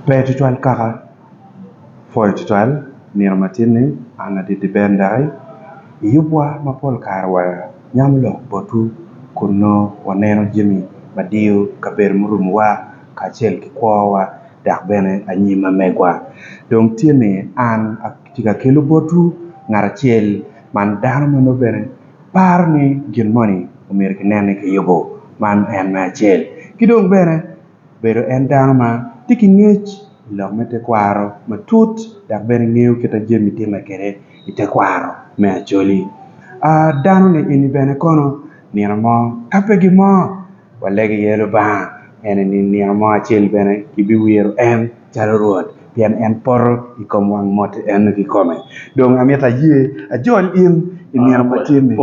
Pe tutwal kaka, pwoyo tutwal, nino matin-ni, an adidi ber ndaki, i yubwa ma pol kare wanyamo lok botwu kun nongo waneno jami ma diyo kabedo murumowa kacel ki kwowa dok bene anyim ma megwa. Dong tye ni an atye ka kelo botwu ngat acel man dano ma nongo bene paro ni gin moni omyero kinene kiyubo, man en me acel. Ki dong bene. Obedo en dano ma tye ki ngec i lok me tekwaro matut dok bene ngeyo kit ma jami timme kwede i tekwaro me Acholi. Danoni eni bene kono nino mo ka pe gin mo walego iye Lubanga en eni nino mo acel bene kibiwiro en calo Rwot pien en poto i kom wang moti eno kikome. Dong amito aye ajol in i nino ma tye-ni.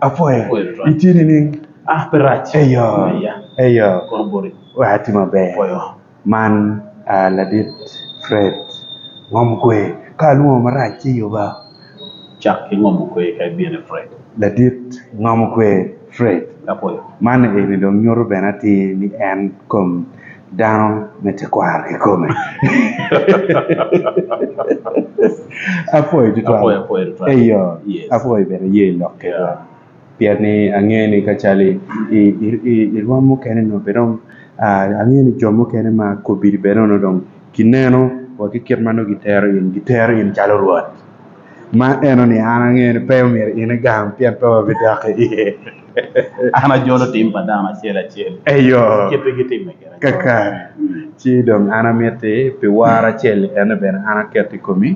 Apwoyo. Itye nining? Eyo, eyo. Wek ati maber. Man aa ladit Fred ngom kwe. Ka alwongo marac ci yuba. Cak ki ngom kwe ka ibino i Fred. Ladit ngom kwe Fred. Man eni dong nyuto bene atir ni en kom dano me tekwaro kikome. Apwoyo tutwal. Eyo, apwoyo bene yer lok kedwa. Pien ni angeyo ni ka calo i rwom mukene nongo pe dong angeyo ni jo mukene ma kobili bene onongo dong gineno wa ki kit ma nongo gitero in, gitero in calo rwot. Ma eno ni an angeyo ni pe myero in igam pien pe wabidok iye. An ajolo tim pa dano acel acel Eyo, kit ma gitimme gire. kakare. Ci dong an amitti pi woro acel-li ene bene an aketo i komi.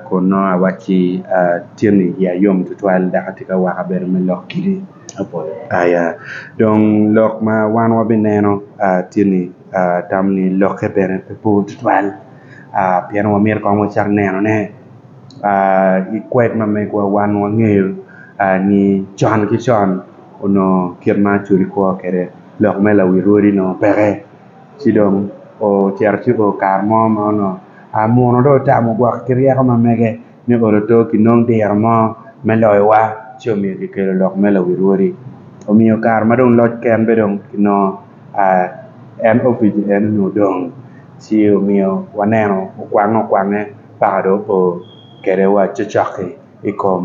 Kun nongo awacci, Atyeni iya yom tutwal, dok atye ka wako abedo me lok kidi apolo. Dong lok ma wan wabineno tye ni atamo ni lokke bene pe bor tutwal pien wamito kong wacak nenone. Ki kwed ma megiwa wan wangeyo ni con ki con onongo kit ma acweli kwo kwede lok me lawi rwodi onongo peke. Ci dong ocito ci obedo kare mo ma onongo muno dong otamo gwok ki ryeko ma mege me olo oto pi nongo diro mo me loyowa ci omiyo kikelo lok me lawi rwodi. Omiyo kare ma dong loc ken be dong onongo en opic en onongo odong ci omiyo waneno okwange okwange paka dong opo kwede wa cocoki i kom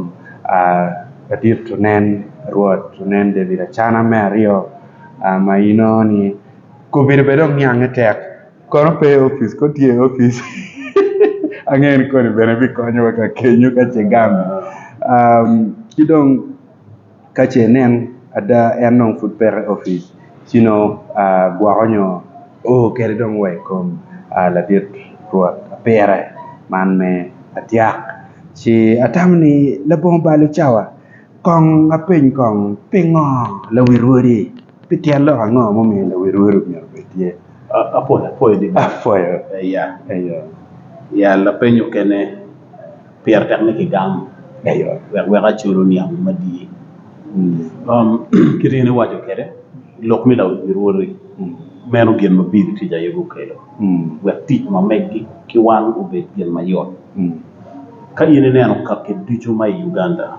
ladit onen Rwot onen David Acana me aryo ma inongo ni Kobedo bene dong niange tek. Kono pe i opic? Kong tye i opic. Angeyo ni koni bene bikonyowa ka kenyo ka ce gamo. Ci dong ka ce nen ada en dong pud peke i opic ci nongo gwoko nyo o kede dong wa i kom ladit Rwot pire man me atyak. Ci atamo ni labongo bal ocawa kong apeny kong pingo lawi rwodi? Pi tyen lok ango mumiyo lawil welo myero obed tye apwoyapoya ni Balo? Apwoyo. Aya. Eyo. Ya lapeny mukene pire tek ni kigamo Eyo. wek weko acol oniang gin madii. Kit in iwaco kwede lok me lawil myero owoti meno gin ma Bili tic aye gukelo wek tic ma megi ki wan obed gin mayot. Ka in ineno kaki ducu ma i Uganda,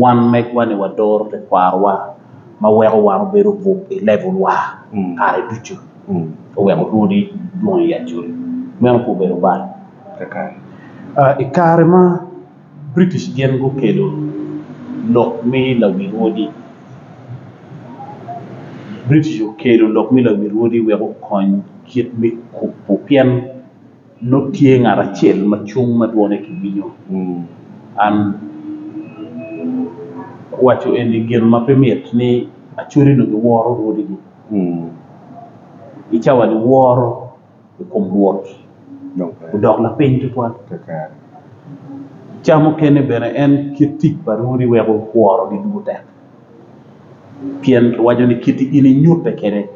Wan megwa-ni wadoro tekwarowa ma weko wan obedo obwok i levelwa kare ducu, oweko lwodi dwong i Acholi. Meno pe obedo bal. I kare ma British gin gukelo lok me lawil wodi, British okelo lok me lawil wodi wek okony kit me kubo pien Nongo tye ngat acel ma cung ma dwone kiwinyo. An kuwaco eni gin ma pe mit ni Acholi-nu giworo rwodigi. I cawa-ni woro i kom Rwot odok lapiny tutwal. Ca mukene bene en kit tic pa rwodi weko worogi dwogo tek, pien kiwaco ni kit-ti in inyutte kwede.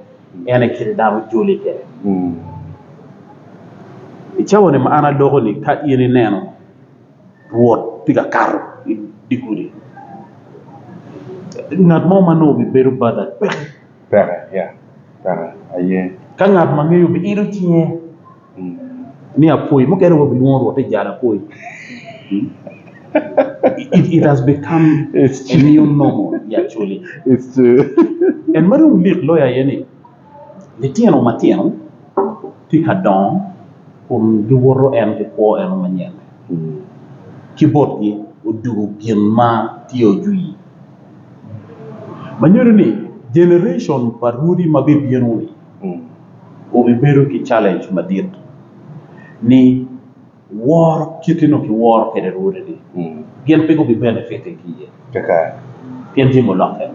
En aye kite dano ojoli kwede. I cawani ma an adoko-ni ka in ineno Rwot tye ka kato i dye gudi, ngat mo ma nongo obibedo badhi peke. Ka ngat ma ngeyo obiilo cinge. ni apoyi mukene aye gilwongo rwot ni jal apoyi. It, it has become a new normal here actually. It's true. En ma dong lik loyo aye ni litino matino tye ka dongo kun giwoto en ki kwo eno manyen ki botgi odugo gin ma tye ojwii ma nyuto ni generation pa rwodi ma bibino-ni Wubibedo ki challenge madit ni woro kite nongo ki woro kwede Rwode ni gin pe gubi benefit i ki ye. Pien jami olokke.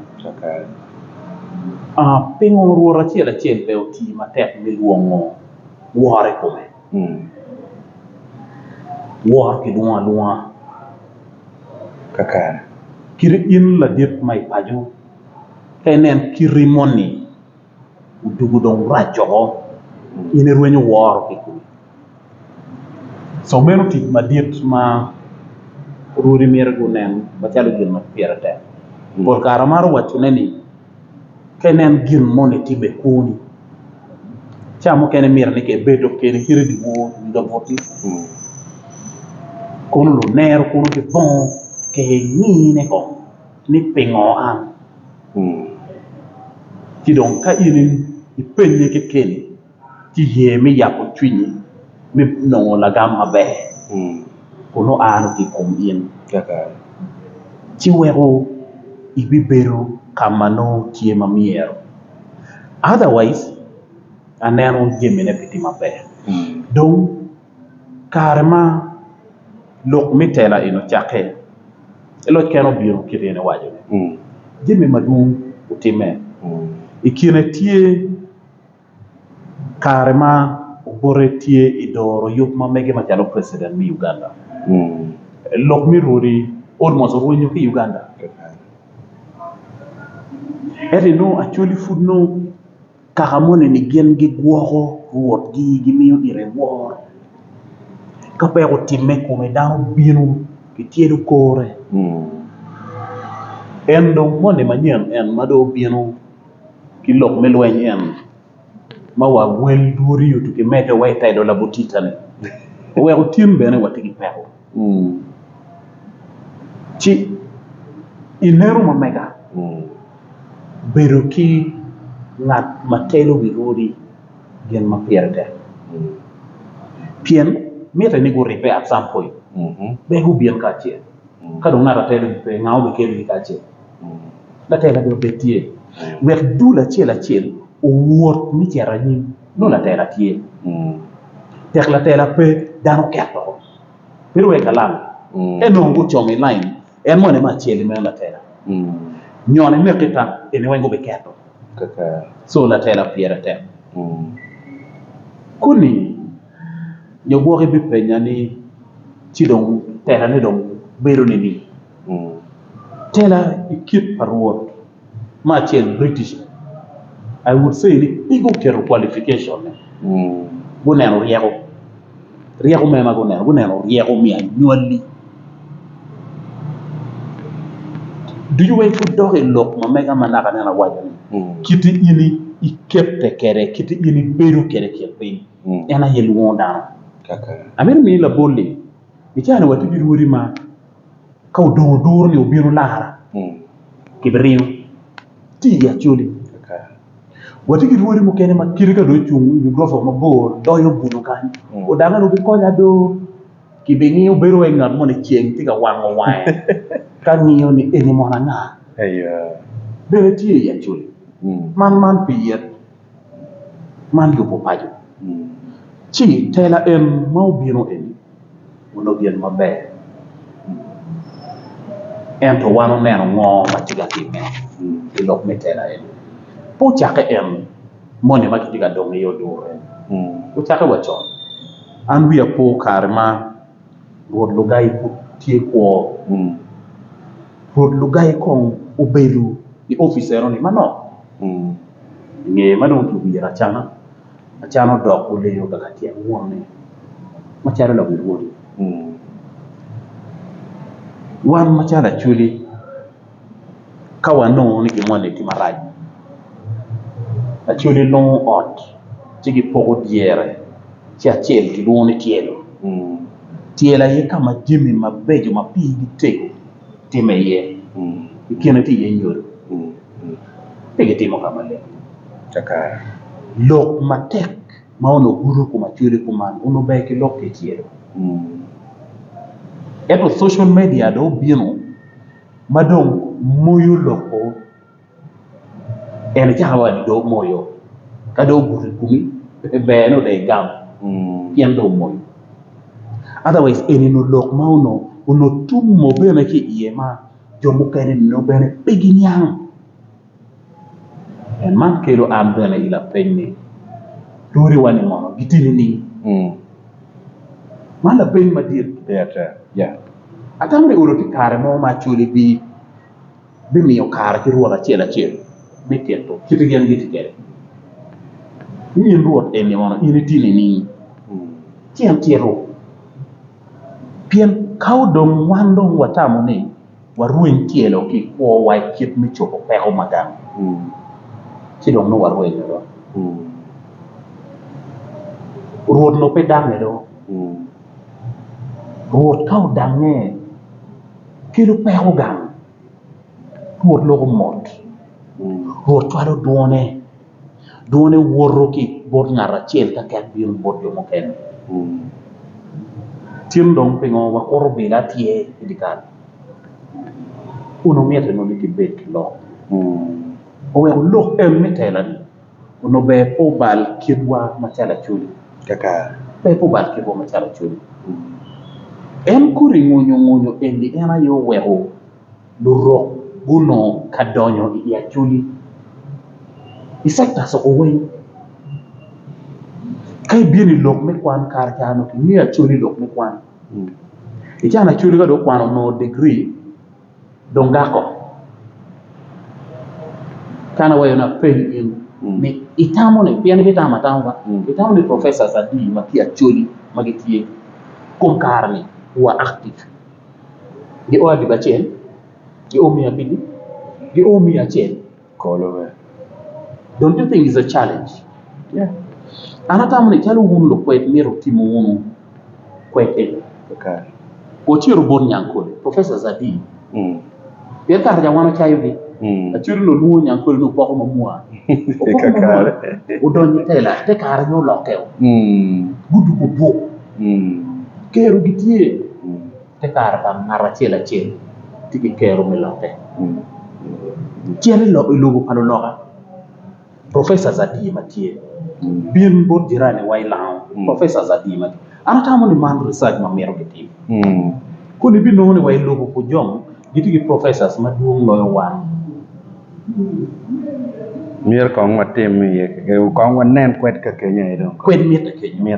Pingo Rwot acel acel bene oti matek me lwongo woro i kome? Woro ki lwongo alwonga. Kadi in ladit ma i paco ka inen kiti moni. odugo dong rac woko in irwenyo woro ki kwic co meno tic madit ma rwodi myero gunen macalo gin ma pire tek pol kare amaro wacone ni ka ineno gin moni tye i kwoni ca mukene myero ni ka ibedo kene kit i dye wor nyige boti kono lunero kono gibongo kenge kong. ni pingo an? Ci dong ka in ipennye kekeni, ci iye me yabo cwinyi me nongo lagam maber kun oano ki i kom in, ci weko ibibedo ka ma nongo tye ma myero. Otherwise, aneno jamine pe tye maber. kare ma lok me tela eni ocakke ci loc kene obino kit ma iwaco ni jami madwong otimme i kine tye kare ma obote tye i doro yub ma mege macalo president me Uganda lok me rwodi almost orwenyo ki i Uganda ento inongo Acholi pud nongo Kaka moni-ni gin gigwoko rwotgi, gimiyo ite woro. Ka peya gutimme i kome, dano bino kityedo kore. En dong moni manyen en ma dong obino ki lok me lweny en ma wa wel dwodi otuki medde wa i tedo labotita-ni, oweko tin bene watye ki peko. Ci i lero ma mega bedo ki ngat ma telo wi odi gin ma pire tek pien mitte ni guribbe at some point pe gubin kacel ka dong ngat atelo pe nga ma obiketogi kacel latela dong pe tye wek dul acel acel owot me cito anyim nongo latela tye tek latela pe dano ket woko. Pe rwek alam. Ento onongo gucomo i lain, en moni ema acel-li meno latela. Nyon imek ki tam, eni weng gubiketo. Co latela pire tek. Koni nyo gwok ibipenya ni, ci dong telane dong bedo nining? Tela i kit pa Rwot. me acel British I would say ni pe guketo qualification ne guneno ryeko ryeko mere ma guneno guneno ryeko me anywali ducu weng pud dok i lok ma mega ma naka aneno awaco ni kiti in ikete kwede kiti in ibedo kwede kit piny en aye lwongo dano amito mini labol ni i caa ni watye ki rwodi ma Ka odong oduro ni obino lara ki bi ringo ci i acholi watye ki rwodi mukene ma kite ka dong ocung i wi gurofa mo mabor donyo buto kany odage onongo gikonya do ki bi ngiyo bedo wai ngat moni ceng tye ka wango wange ka ngiyo ni eni mono anga bene tye i acholi man man pi yet Man lubo paco ci tela en ma obino eni onongo gin maber ento wan oneno ngo ma tye ka timme ki lok me tela eni pe ocake en moni ma kitye ka dongo iye odure ocake wa con an wiya pe opo kare ma rwot Lugai pud tye kwo rwot Lugai kong obedo i opice enoni manok. I nge ma dong kiwiro acana, acana odok olenyo kaka tyeng wonne macalo lawil woti. Wan macalo Acholi ka wanongo ni gin moni tye marac, Acholi longo ot ci gipoko dyere ci acel kilwongo ni tyelo, tyelo aye ka ma jami mabeco ma pigi tego. timme iye, i kine tye iye nyodo, pe gitimo ka maleng. Lok matek ma onongo gudo i kom acwele kuman onongo ber ki lok kicel, ento social media dong obino ma dong moyo lok-ko En ecako waco dong omoyo ka dong obuto i kumi ber ni odong igam pien dong omoyo otherwise eni ni lok ma onongo tumo bene ki iye ma jo mukene nongo bene pe giniang en man kelo an bene i lapeny ni rwodiwa ni mono giti nining man lapeny madit ata dong i ot tye kare mo ma Acholi bino. bimiyo kare ki rwot acel acel me tito kit ma gin gitye kwede. Ni in rwot eni ono in itye nining? Ci en tito, Pien ka odong wan dong watamo ni warweny tyelo ki i kwowa i kit me cobo peko ma gang, ci dong nongo warwenyo do, rwot nongo pe dangnge do, rwot ka odangnge, kelo peko gang, Rwot loko mot, Rwot cwalo dwone, dwone woto ki i bot ngat acel ka ket bino bot jo mukene. Cen dong pingo wakuto bilo atyer i dye kal? Onongo mitte nongo ni kibed ki lok, oweko lok en me tela-ni. onongo ber pe obal kitwa macalo Acholi, ber pe obal kitwa macalo Acholi, en kodi ngonyongonyo eni en aye oweko Lurok gunongo ka donyo i Acholi i sectors oko weng ka ibino i lok me kwan kare ca onongo kingeyo Acholi i lok me kwan, i can Acholi ka dong okwano onongo digiri. Dong dako kan awaco ni apeny in ni itamo ni pien ibitamo atama ba itamo ni professors adi ma ki Acholi ma gitye i kom kare ni wa active? Gio adiba acel? Gio miya abidi? Gio miya acel? Don't you think it's a challenge? An atamo ni calo wun lukwed myero wutim wunu kwed eni. Ociro bot Nyankole, Professor Zadi, pien kare-ca wan ocayogi. Acwero ni olwongo Nyankole ni opoko ma mwa. Opoko ma mwa, odonyo i tela, te kare aye olokke-o. Gudugo buk. Kero gitye. Te kare pa ngat acel acel tye ki kero me lokke. Cen i lobo pa luloka, Professor Zadir ma tye bin bot jirani wa i Lango, Professor Zadir ma tye. An atamo ni man research ma mito ki tim. Koni i binongo ni wa i lobo Pujong gitye ki Professors ma dwong loyo wan. Myero kong watim iye keken, kong wanen kwed ka Kenya aye dong. Kwed mitte kenyo.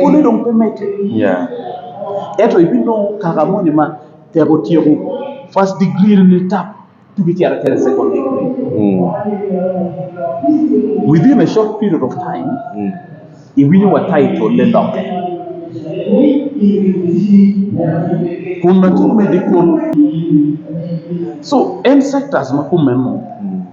Pole dong pe medde ya ento ibinongo kaka moni ma tek otyeko first degree ni tap tika icito acita i second degree within a short period of time iwinyo wa taitole lokke kun atye medo i kome so en sectors ma kumeno.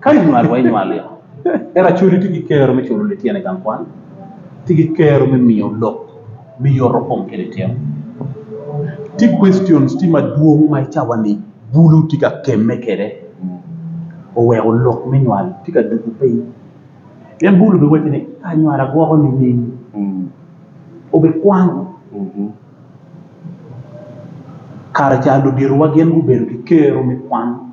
Ka inywalo wa, inywal yo. Ento acoli tye ki kero me culo lityen i gang kwan, tye ki kero me miyo lok me yoto kom ki lityen. Tye questions tye madwong ma i cawa-ni bulu tye ka kemme kwede, oweko lok me nywal tye ka dugo piny. Pien bulu obiwaco ni ka anywala gwoko nining? Obikwano kare ca luditowa gin gubedo ki kero me kwan.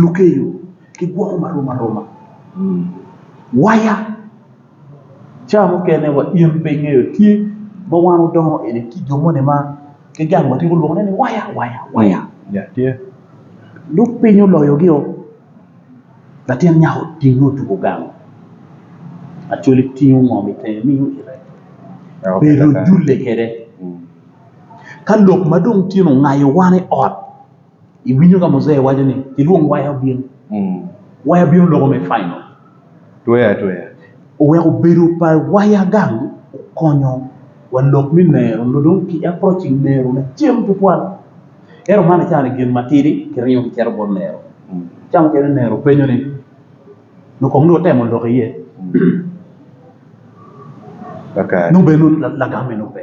Lukeyo gigwoko ma rom aroma waya ca mukene wa in pe ingeyo tye ma wan wadongo eni ki jo moni ma ki gang wa tye gulwongo ne ni waya waya waya nongo piny oloyogi oo latin nyako otinge otugo gang Acholi tingo ngom itenge miyo ite bedo ojule kwede ka lok ma dong tye ni ongayo wan i ot. Iwinyo ka Mujee waco ni, 'Gilwong waya obin. Waya bino loko me final. Tweyo atweya. Oweko bedo pa waya gang okonyo wa lok me nero nyo dong ki approaching nero na cen tutwal. Ento man acato ni gin matidi kiringo kicito bot nero. Ca mukene nero penyo ni, nyo kong nongo watemo lok iye? Nongo bene nongo lagam-mi nongo pe.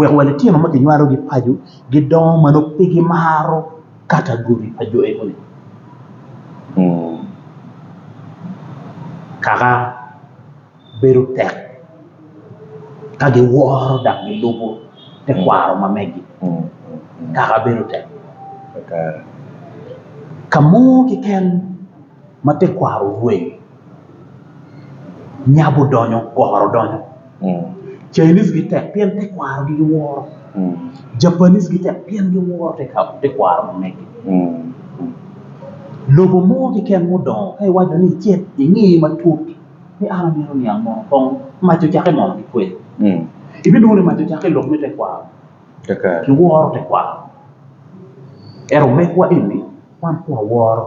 wek wa litino ma kinywalogi paco gidongo ma nongo pe gimaro katagoli pa jo enoni. Kaka bedo tek ka giworo dok gilubo tekwaro ma megi kaka bedo tek. Ka mo keken ma tekwaro orweny nyabo donyo goro donyo Chinese gitek pien tekwarogi giworo Japanese gitek pien giworo tekwaro ma megi lobo mo keken ma odongo ka iwaco ni icit ingi matut ni an amito niang mono kong mac ocake mono ki kwed ibinongo ni mac ocake i lok me tekwaro kiworo tekwaro ento mekwa eni wan pud waworo.